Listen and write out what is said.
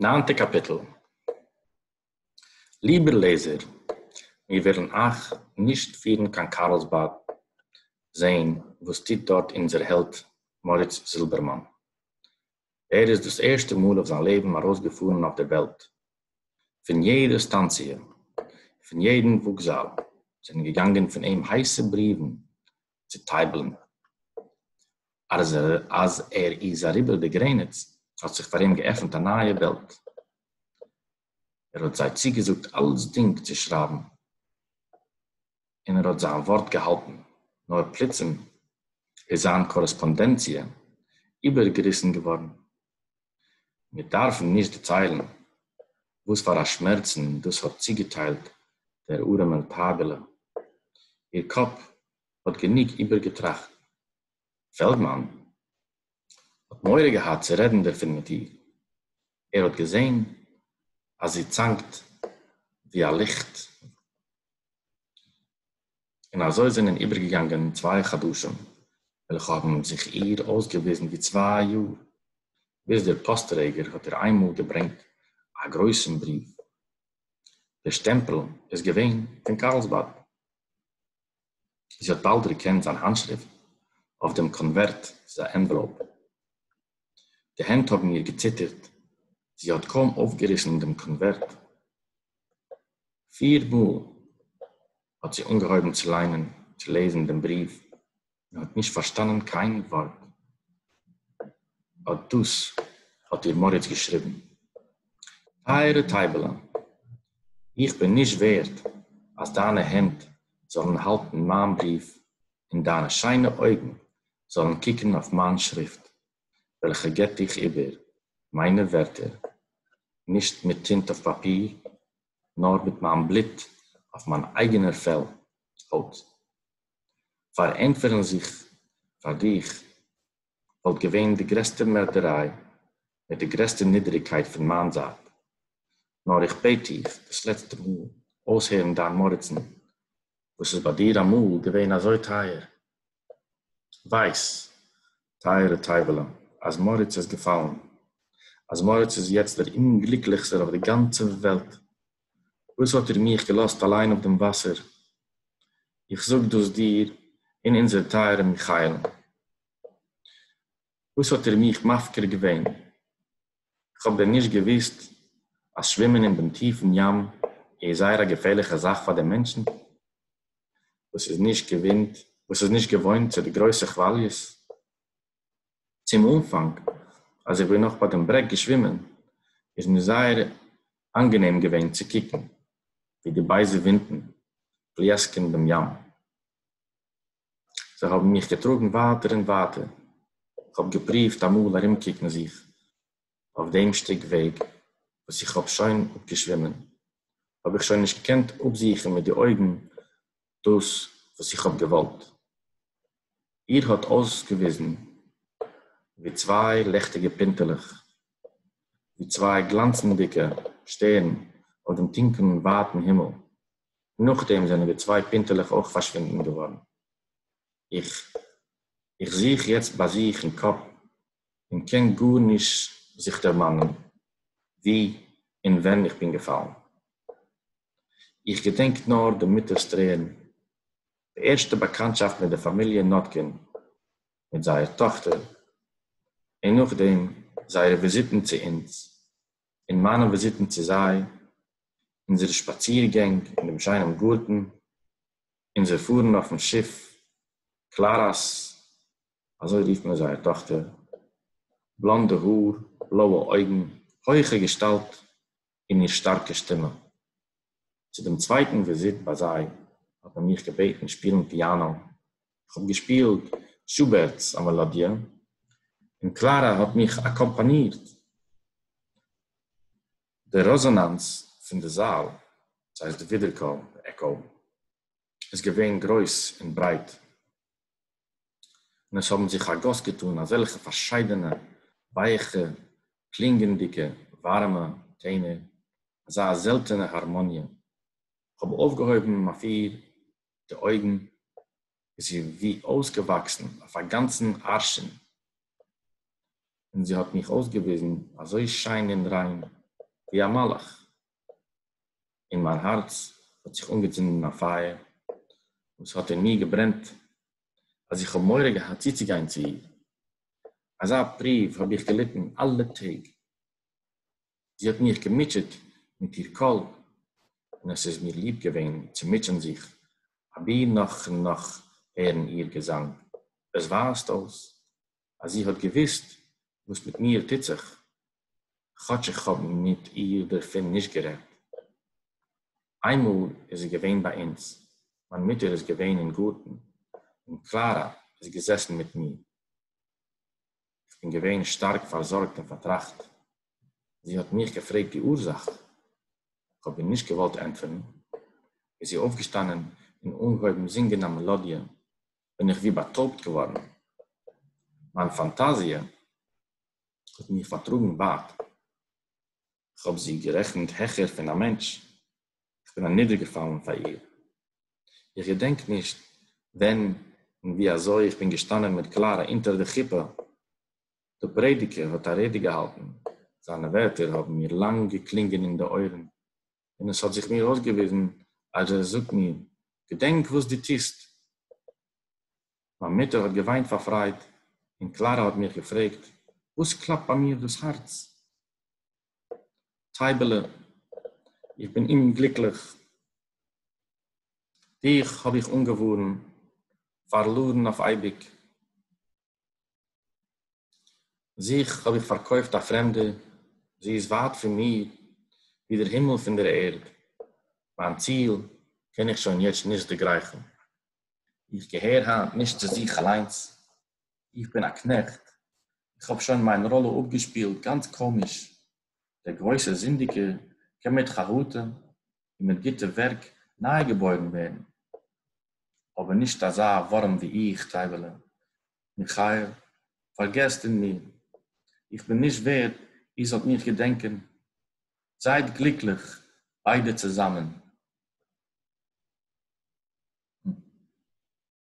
ניינטע קאפיטל ליבער לעזער, מיר וועלן אייך נישט פירן קיין קארלסבאד זען וואס טוט דארט אונזער העלד מאריץ זילבערמאן. ער איז דאס ערשטע מאל אויף זיין לעבן ארויסגעפארן אויף דער וועלט. פון יעדע סטאנציע, פון יעדן וואקזאל זענען געגאנגען פון אים הייסע בריוון צו טײַבלען, אַז ער, אַז ער איז אַריבער די גרענעץ, האָט זיך פֿאַר אים געעפֿנט אַ נײַע װעלט. ער האָט זײ צוגעזאָגט אַלצדינג צו שרײַבן, און ער האָט זײַן װאָרט געהאַלטן. נאָר פּלוצעם איז זײַן קאָרעספּאָנדענציע איבערגעריסן געװאָרן. מיר דארפן נישט דערציילן וואס פאר א שמערצן דאס האט צוגעטיילט דער ארעמעל טייבעלע. איר קאפ האט גענוג איבערגעטראכט. פעלדמאן האט מורא געהאט צו רעדן דערפון מיט איר. ער האט געזען אז זי צאנקט ווי א ליכט. און אזוי זענען איבערגעגאנגען צוויי חדשים, וועלכע האבן זיך איר אויסגעוויזן ווי צוויי יאר, ביז דער פאסט-טרעגער האט איר איינמאל געברענגט א גרויסן בריוו. דער שטעמפל איז געווען פון קארלסבאד. זי האט באלד דערקענט זיין האנטשריפט אויף דעם קאנווערט צו די ענוועלאופ. די הענט האבן איר געציטערט, זי האט קוים אויפגעריסן דעם קאנווערט, פיר מאל האט זי אנגעהויבן צו ליינען, צו לעזן דעם בריוו, און האט נישט פארשטאנען קיין ווארט. אט דאס האט איר מוריץ געשריבן, טייערע טייבעלען, איך בין נישט ווערד אז דיינע הענט זאלן האלטן מיין בריוו און דיינע שיינע אויגן זאלן קוקן אויף מיין שריפט. וועלכע געט דיך איבער מיינע ווערטער, נישט מיט טינט אויף פאפיר, נאר מיט מיין בלוט אויף מיין אייגענער פעל, הויט. פארענטפערן זיך פאר דיך וואלט געווען די גרעסטע מערדעריי מיט די גרעסטע נידעריגקייט פון מיין זייט, נאר איך בעט דיך דאס לעצטע מאל אויסהערן דיין מרצן וואס איז ביי דיר אמאל געווען אזוי טייער ווייס, טייערע טייוועלע, אז מאריץ איז געפאלן, אז מאריץ איז יעצט דער אומגליקליכסטער אויף די גאנצע וועלט, וואס האט איר מיך געלאזט אליין אויף דעם וואסער? איך זאג דאס דיר און אונזער טייערע מיכאל'ן. וואס האט איר מיך מפקיר געווען? איך האב דען נישט געוואוסט אז שווימען אין דעם טיפן ים איז זייער א געפערליכע זאך פאר דעם מענטשן וואס איז נישט געוואונט וואס איז נישט געוואוינט צו די גרויסע כוואליעס? צום אנפאנג אז איך בין נאך ביי דעם ברעג געשווימען איז מיר זייער אנגענעם געווען צו קוקן ווי די בייזע ווינטן פליעסקען דעם ים, זיי האבן מיך געטראגן ווייטער און ווייטער, איך האב געפרואווט אמאל ארומקוקן זיך אויף דעם שטיק וועג וואס איך האב שוין אפגעשווימען, האב איך שוין נישט געקענט אפזוכן מיט די אויגן דאס וואס איך האב געוואלט, איר האט אויסגעוויזן ווי צוויי לעכטיגע פינטעלעך, ווי צוויי גלאנצנדיגע שטערן אויף דעם טונקלן ווייטן הימל, נאכדעם זענען די צוויי פינטעלעך אויך פארשווינדן געווארן. איך איך זוך יעצט ביי זיך אין קאפ און קען גארנישט זיך דערמאנען ווי און ווען איך בין געפאלן. איך געדענק נאר די מוטער'ס טרערן, די ערשטע באקאנטשאפט מיט די פאמיליע נאטקין מיט זייער טאכטער, און נאכדעם זייערע וויזיטן צו אונז אין מיינע וויזיטן צו זיי, אונזערע שפאצירגענג אין דעם שיינעם גארטן, אונזער פארן אויפן שיף קלארא'ס, אזוי רופט מען זייער טאכטער, בלאנדע האר, בלויע אויגן, הויכע געשטאלט און איר שטארקע שטימע. צו דעם צווייטן וויזיט ביי זיי האט מען מיך געבעטן שפילן פיאנא, איך האב געשפילט שובערט'ס א מעלאדיע און קלארא האט מיך אקאמפאנירט. די רעזאנאנס פון די זאל, דאס הייסט די ווידערקול, די עקאו, איז געווען גרויס און ברייט. און עס האָבן זיך אַ גאָס געטאָן אַזעלכע פֿאַרשיידענע ווייכע, קלינגענדיקע, וואַרעמע טענער, אַזאַ זעלטענע האַרמאָניע! איך האָב אויפֿגעהויבן אויף איר די אויגן, איז זי ווי אויסגעוואַקסן אויף אַ גאַנצן אַרשין, און זי האָט מיך אויסגעוויזן אַזוי שיין און ריין, ווי אַ מלאך. אין מיין הארץ האט זיך אנגעצינדן א פייער וואס האט אין מיר געברענט אז איך האב מורא געהאט צוצוגיין צו איר, אזא פרואוו האב איך געליטן אלע טעג, זי האט מיך געמוטשעט מיט איר קול און עס איז מיר ליב געווען צו מוטשען זיך אבי נאך און נאך הערן איר געזאנג, עס ווייזט אויס אז זי האט געוואוסט וואס מיט מיר טוט זיך, כאטש איך האב מיט איר דערפון נישט גערעדט. איינמאל איז זי געווען ביי אונז, מיין מוטער איז געווען אין גארטן און קלארא איז געזעסן מיט מיר. איך בין געווען שטארק פארזארגט און פארטראכט. זי האט מיך געפרעגט די אורזאך. איך האב איר נישט געוואלט ענטפערן, איז זי אויפגעשטאנען און אנגעהויבן זינגען א מעלאדיע בין איך ווי באטויבט געווארן, מיין פאנטאזיע האט מיך פארטראגן ווייט, איך האב זי גערעכנט העכער פון א מענטש, איך בין אנידערגעפאלן פאר איר, איך געדענק נישט ווען און ווי אזוי איך בין געשטאנען מיט קלארע אונטער די חופה, דער פרעדיגער האט א רעדע געהאלטן, זיינע ווערטער האבן מיר לאנג געקלינגען אין די אויערן, און עס האט זיך מיר אויסגעוויזן אז ער זאגט מיר, געדענק וואס דו טוסט! מיין מוטער האט געוויינט פאר פרייד, און קלארע האט מיך געפרעגט, וואס קלאפט ביי מיר דאס הארץ? טייבעלע, איך בין אומגליקליך! דיך האב איך אנגעווארן, פארלארן אויף אייביג! זיך האָב איך פֿאַרקױפֿט אַ פֿרעמדער, זי איז װײַט פֿון מיר, װי דער הימל פֿון דער ערד. מײַן ציל קען איך שױן יעצט נישט דערגרײכן. איך געהער הײַנט נישט צו זיך אַלײנס. איך בין אַ קנעכט. איך האָב שױן מײַן ראָלע אָפּגעשפּילט גאַנץ קאָמיש, דער גרויסער זינדיקער קען מיט חרטה און מיט גוטע ווערק ניי געבוירן ווערן, אבער נישט אזא ווארעם ווי איך, טייבעלע. מיכאל, פארגעסט אין מיר, איך בין נישט ווערד איר זאלט מיך געדענקען. זייט גליקליך ביידע צוזאמען.